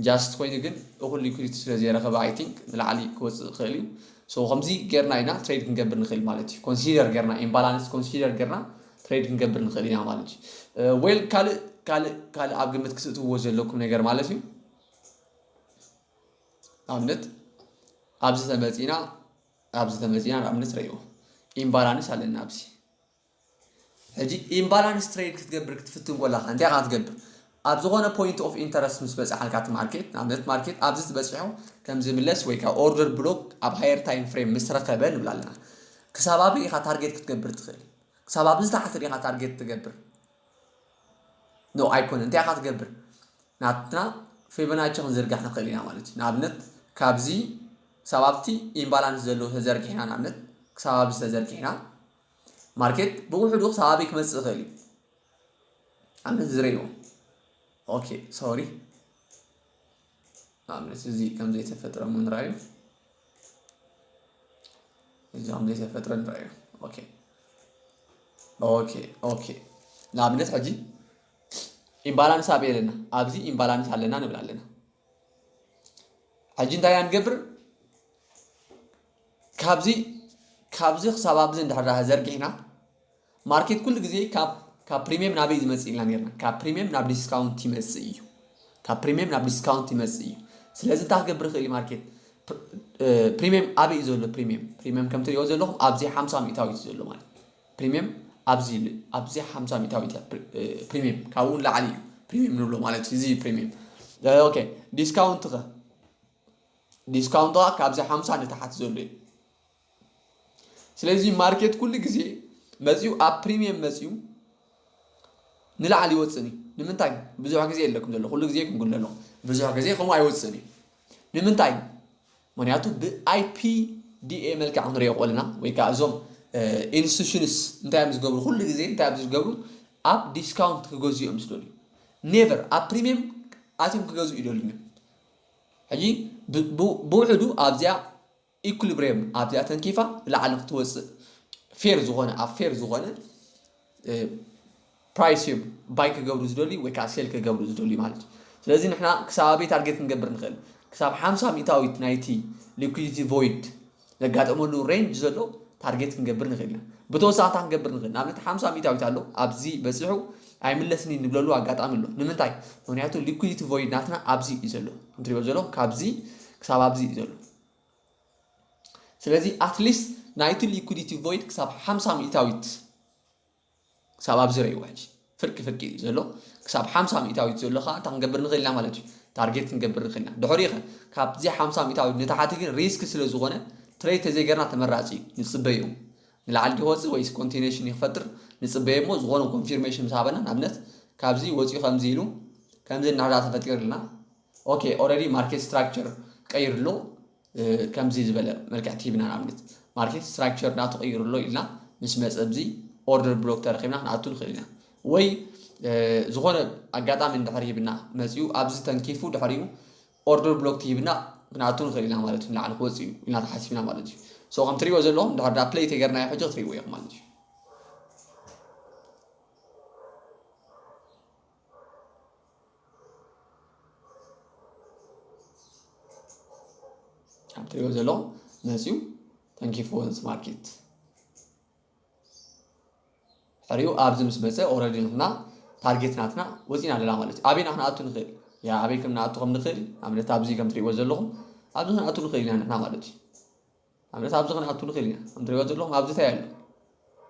ጃስት ኮይኑ ግን እኹል ሊኩዲቲ ስለ ዘይረኸበ ኣይ ቲንክ ንላዕሊ ክወፅእ ይኽእል እዩ ሶ ከምዚ ጌርና ኢና ትሬድ ክንገብር ንኽእል ማለት እዩ ኮንሲደር ጌርና ኢምባላንስ ኮንሲደር ጌርና ትሬድ ክንገብር ንኽእል ኢና ማለት እዩ ዌል ካልእ ካልእ ካልእ ኣብ ግምት ክትእትዎ ዘለኩም ነገር ማለት እዩ ንኣብነት ኣብዚ ተመፂና ኣብዚ ተመፂና ንኣብነት ረእዎ ኢምባላንስ ኣለና ኣብዚ ሕጂ ኢምባላንስ ትሬድ ክትገብር ክትፍትን ኮላካ እንታይ ካ ትገብር ኣብ ዝኾነ ፖይንት ኦፍ ኢንተረስት ምስ በፅሓልካ እቲ ማርኬት ንኣብነት ማርኬት ኣብዚ ዝበፅሑ ከም ዝምለስ ወይ ከዓ ኦርደር ብሎክ ኣብ ሃየር ታይም ፍሬም ምስ ረኸበ ንብላ ኣለና ክሳብ ኣበይ ኢኻ ታርጌት ክትገብር ትኽእል ክሳብ ኣብዚ ታሕቲ ዲኻ ታርጌት ትገብር ኖእ ኣይኮነን እንታይ ኢኻ ትገብር ናትና ፌበናቸ ክንዝርጋሕ ንኽእል ኢና ማለት እዩ ንኣብነት ካብዚ ክሳብ ኣብቲ ኢምባላንስ ዘለዎ ተዘርጊሕና ንኣብነት ክሳብ ኣብዚ ተዘርጊሕና ማርኬት ብውሕዱ ክሳብ ኣበይ ክመፅእ ይኽእል እዩ ኣብነት ዝረይዎ ኦኬ ሶሪ ንኣብነት እዚ ከም ዘይተፈጥረ እውን ራዩ እዚ ከም ዘይተፈጥረ ንራዩ ኦኬ ኦኬ ኦኬ ንኣብነት ሕጂ ኢምባላንስ ኣብ ኣለና ኣብዚ ኢምባላንስ ኣለና ንብል ኣለና ሕጂ እንታይ ንገብር ካብዚ ካብዚ ክሳብ ኣብዚ እንድሕር ዘርጊሕና ማርኬት ኩሉ ግዜ ካብ ካብ ፕሪሚየም ናበይ ዝመጽእ ኢልና ነርና ካብ ፕሪሚየም ናብ ዲስካውንት ይመጽእ እዩ ካብ ፕሪሚየም ናብ ዲስካውንት ይመጽእ እዩ ስለዚ እንታይ ክገብር ይኽእል ማርኬት ፕሪሚየም ኣበይ እዩ ዘሎ ፕሪሚየም ፕሪሚየም ከም ትሪኦ ዘለኹም ኣብዚ ሓምሳ ሚእታዊት እዩ ዘሎ ማለት ፕሪሚየም ኣብዚ ኣብዚ ሓምሳ ሚእታዊት እያ ፕሪሚየም ካብኡ ንላዕሊ እዩ ፕሪሚየም ንብሎ ማለት እዩ እዚ ፕሪሚየም ኦኬ ዲስካውንት ከ ዲስካውንት ካብዚ ሓምሳ ንታሓት ዘሎ እዩ ስለዚ ማርኬት ኩሉ ግዜ መፂኡ ኣብ ፕሪሚየም መፂኡ ንላዕሊ ይወፅእን እዩ ንምንታይ ብዙሕ ግዜ የለኩም ዘሎ ኩሉ ግዜ ክንጉል ኣለኹ ብዙሕ ግዜ ከምኡ ኣይወፅእን እዩ ንምንታይ ምክንያቱ ብኣይፒ ዲኤ መልክዕ ክንሪኦ ቆልና ወይ ከዓ እዞም ኢንስቲቱሽንስ እንታይ እዮም ዝገብሩ ኩሉ ግዜ እንታይ እዮም ዝገብሩ ኣብ ዲስካውንት ክገዝኡ እዮም ዝደልዩ ኔቨር ኣብ ፕሪሚየም ኣትዮም ክገዝኡ ይደልዩ ሕጂ ብውሕዱ ኣብዚኣ ኢኩሊብሬም ኣብዚኣ ተንኪፋ ንላዕሊ ክትወፅእ ፌር ዝኾነ ኣብ ፌር ዝኾነ ፕራይስ እዮም ባይ ክገብሩ ዝደልዩ ወይ ከዓ ሴል ክገብሩ ዝደልዩ ማለት እዩ ስለዚ ንሕና ክሳብ ኣበይ ታርጌት ክንገብር ንኽእል ክሳብ ሓምሳ ሚእታዊት ናይቲ ሊኩዲቲ ቮይድ ዘጋጠመሉ ሬንጅ ዘሎ ታርጌት ክንገብር ንኽእል ኢና ብተወሳኺ እንታይ ክንገብር ንኽእል ንኣብነት ሓምሳ ሚእታዊት ኣሎ ኣብዚ በፂሑ ኣይምለስኒ ንብለሉ ኣጋጣሚ ኣሎ ንምንታይ ምክንያቱ ሊኩዲቲ ቮይድ ናትና ኣብዚ እዩ ዘሎ እንትሪኦ ዘሎ ካብዚ ክሳብ ኣብዚ እዩ ዘሎ ስለዚ ኣትሊስት ናይቲ ሊኩዲቲ ቮይድ ክሳብ ሓምሳ ሚእታዊት ክሳብ ኣብዚ ረይዋ ሕጂ ፍርቂ ፍርቂ እዩ ዘሎ ክሳብ ሓምሳ ሚእታዊት ዘሎ ከዓ እንታይ ክንገብር ንኽእል ኢና ማለት እዩ ታርጌት ክንገብር ንኽእል ኢና ድሕሪ ኸ ካብዚ ሓምሳ ሚእታዊት ንታሓቲ ግን ሪስክ ስለ ዝኾነ ትሬድ ተዘይገርና ተመራፂ እዩ ንፅበዩ ንላዕሊ ዲወፅእ ወይስ ኮንቲኔሽን ይክፈጥር ንፅበየ እሞ ዝኾነ ኮንፊርሜሽን ምስ ሃበና ንኣብነት ካብዚ ወፂኡ ከምዚ ኢሉ ከምዚ እናዳ ተፈጢርልና ኦኬ ኦረዲ ማርኬት ስትራክቸር ቀይሩ ኣሎ ከምዚ ዝበለ መልክዕ ቲቪና ንኣብነት ማርኬት ስትራክቸር ናቱ ቀይሩ ኣሎ ኢልና ምስ መፀ ኣብዚ ኦርደር ብሎክ ተረኪብና ክንኣቱ ንኽእል ኢና ወይ ዝኾነ ኣጋጣሚ እንድሕር ሂብና መፅኡ ኣብዚ ተንኪፉ ድሕሪኡ ኦርደር ብሎክ ትሂብና ክንኣቱ ንኽእል ኢና ማለት እዩ ንላዕሊ ክወፅ እዩ ኢልና ተሓሲብና ማለት እዩ ሶ ከም ትሪእዎ ዘለኹም ድሕር ዳ ፕለይ ተገርናዮ ሕጂ ክትሪእዎ ኢኹም ማለት እዩ ኣብ ትሪኦ ዘለኹም መፅዩ ተንኪፍዎን ስማርኬት ሕሪኡ ኣብዚ ምስ መፀ ኦረዲ ንሕና ታርጌት ናትና ወፂና ኣለና ማለት እዩ ኣበይና ክንኣቱ ንኽእል ያ ኣበይ ከም ንኣቱ ከም ንኽእል ኣብነት ኣብዚ ከም ትሪእዎ ዘለኹም ኣብዚ ክንኣቱ ንኽእል ኢና ንሕና ማለት እዩ ኣብነት ኣብዚ ክንኣቱ ንኽእል ኢና ከም ትሪእዎ ዘለኹም ኣብዚ እንታይ ኣሎ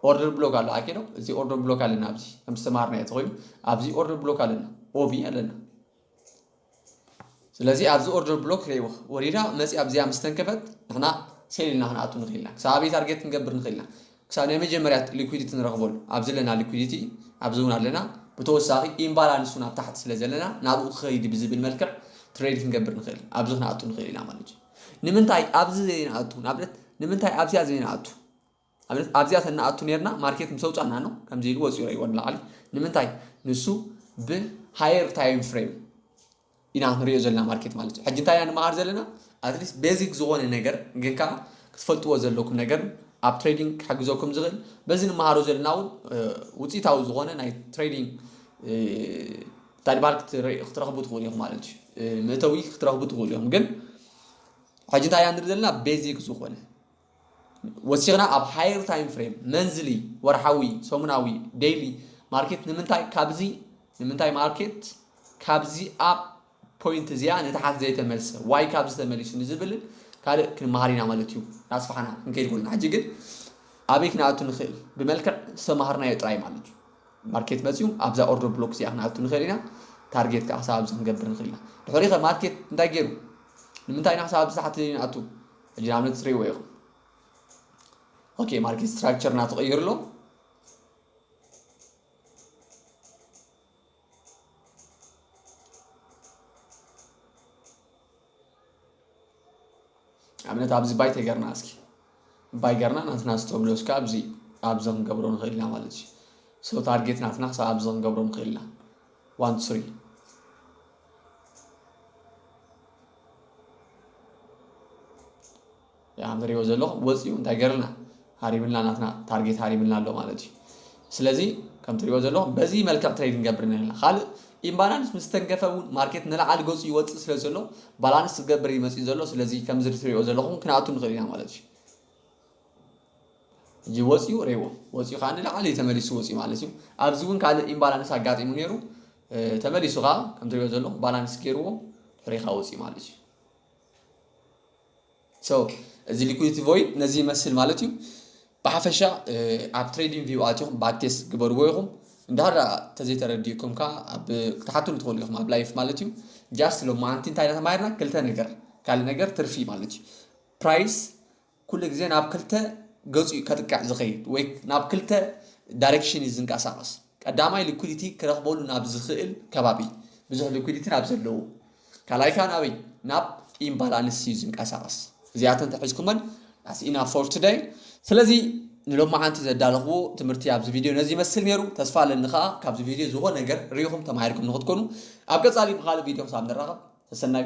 ኦርደር ብሎክ ኣሎ ኣኬዶ እዚ ኦርደር ብሎክ ኣለና ኣብዚ ከም ዝተማሃርና እቲ ኮይኑ ኣብዚ ኦርደር ብሎክ ኣለና ኦቪ ኣለና ስለዚ ኣብዚ ኦርደር ብሎክ ክርእይዎ ወሪዳ መፅያ ኣብዚኣ ምስ ተንከፈት ንሕና ሴል ኢልና ክንኣቱ ንኽእል ኢና ክሳብ ኣበይ ታርጌት ክንገብር ንኽእል ኢና ክሳብ ናይ መጀመርያ ሊኩዲቲ ንረኽበሉ ኣብዚ ኣለና ሊኩዲቲ ኣብዚ እውን ኣለና ብተወሳኺ ኢምባላንስ እውን ኣብ ታሕቲ ስለ ዘለና ናብኡ ክኸይድ ብዝብል መልክዕ ትሬድ ክንገብር ንኽእል ኣብዚ ክንኣቱ ንኽእል ኢና ማለት እዩ ንምንታይ ኣብዚ ዘይንኣቱ ንኣብነት ንምንታይ ኣብዚኣ ዘይንኣቱ ኣብነት ኣብዚኣ ተናኣቱ ነርና ማርኬት ምስ ኣውፃና ነው ከምዚ ኢሉ ወፂኡ ረይዎ ንላዕሊ ንምንታይ ንሱ ብሃየር ታይም ፍሬም ኢና ክንሪኦ ዘለና ማርኬት ማለት እዩ ሕጂ እንታይ ኢና ንመሃር ዘለና ኣትሊስት ቤዚክ ዝኾነ ነገር ግን ከዓ ክትፈልጥዎ ዘለኩም ነገር ኣብ ትሬዲንግ ክሕግዘኩም ዝኽእል በዚ ንመሃሮ ዘለና እውን ውፅኢታዊ ዝኾነ ናይ ትሬዲንግ ታድባር ክትረኽቡ ትኽእሉ ኢኹም ማለት እዩ መእተዊ ክትረኽቡ ትኽእሉ ኢኹም ግን ሕጂ እንታይ ንርኢ ዘለና ቤዚክ ዝኾነ ወሲኽና ኣብ ሃየር ታይም ፍሬም መንዝሊ ወርሓዊ ሰሙናዊ ዴይሊ ማርኬት ንምንታይ ካብዚ ንምንታይ ማርኬት ካብዚ ኣብ ፖይንት እዚኣ ንታሓት ዘይተመልሰ ዋይ ካብዚ ተመሊሱ ንዝብልን ካልእ ክንመሃር ኢና ማለት እዩ ናስፋሕና ክንከይድ ኮልና ሕጂ ግን ኣበይ ክንኣቱ ንኽእል ብመልክዕ ዝተማሃርናዮ ጥራይ ማለት እዩ ማርኬት መጺኡ ኣብዛ ኦርደር ብሎክ እዚኣ ክንኣቱ ንኽእል ኢና፣ ታርጌት ከኣ ክሳብ ኣብዚ ክንገብር ንኽእል ኢና። ድሕሪ'ኸ ማርኬት እንታይ ገይሩ? ንምንታይ ኢና ክሳብ ኣብዚ ታሕቲ ንኣቱ? ሕጂ ንኣብነት ትርእይዎ ኢኹም። ኦኬ ማርኬት ስትራክቸር ናቱ ቀይሩ ኣሎ። ኣብነት ኣብዚ ባይ ተገርና እስኪ ባይ ገርና ናትና ዝተብሎ እስከ ኣብዚ ኣብዚ ክንገብሮ ንኽእል ኢና ማለት እዩ ሰው ታርጌት ናትና ክሳብ ኣብዚ ክንገብሮ ንኽእል ኢና ዋን ስሪ ከም ትሪእዎ ዘለኹም ወጺኡ እንታይ ገርልና ሃሪምልና ናትና ታርጌት ሃሪምልና ኣሎ ማለት እዩ ስለዚ ከም ትሪእዎ ዘለኹም በዚ መልክዕ ትሬድ ንገብር ነርና ካልእ ኢምባላንስ ምስ ተንገፈ እውን ማርኬት ንላዕሊ ገጹ ይወጽእ ስለ ዘሎ ባላንስ ዝገብር እዩ መጺኡ ዘሎ ስለዚ ከምዚ ትሪእዎ ዘለኹም ክንኣቱ ንኽእል ኢና ማለት እዩ ሕጂ ወፂኡ ሬዎ ወፂኡ ከዓ ንላዕሊ ተመሊሱ ወፂኡ ማለት እዩ ኣብዚ እውን ካልእ ኢምባላንስ ኣጋጢሙ ነይሩ ተመሊሱ ከዓ ከምትሪኦ ዘሎ ባላንስ ገይርዎ ሕሪኻ ወፂኡ ማለት እዩ So እዚ ሊኩዲቲ ቮይድ ነዚ ይመስል ማለት እዩ ብሓፈሻ ኣብ ትሬዲንግ ቪው ኣትኹም ባክቴስት ግበርዎ ኢኹም እንዳሃራ ተዘይተረዲእኩም ከዓ ኣብ ክትሓትሉ ትኽእሉ ኢኹም ኣብ ላይፍ ማለት እዩ ጃስት ሎማንቲ እንታይ ኢና ተማሂርና ክልተ ነገር ካልእ ነገር ትርፊ ማለት እዩ ፕራይስ ኩሉ ግዜ ናብ ክልተ ገፁ እዩ ከጥቅዕ ዝኸይድ ወይ ናብ ክልተ ዳይሬክሽን እዩ ዝንቀሳቐስ ቀዳማይ ሊኩዲቲ ክረኽበሉ ናብ ዝኽእል ከባቢ ብዙሕ ሊኩዲቲ ናብ ዘለዎ ካልኣይ ከኣ ናበይ ናብ ኢምባላንስ እዩ ዝንቀሳቐስ እዚኣተን ተሒዝኩመን ዳስ ኢናፍ ፎር ቱደይ ስለዚ ንሎማዓንቲ ዘዳለኽዎ ትምህርቲ ኣብዚ ቪድዮ ነዚ ይመስል ነይሩ ተስፋ ኣለኒ ከዓ ካብዚ ቪድዮ ዝኾነ ነገር ርኢኹም ተማሂርኩም ንኽትኮኑ ኣብ ቀፃሊ ብካልእ ቪድዮ ክሳብ ንራኸብ ተሰናዩ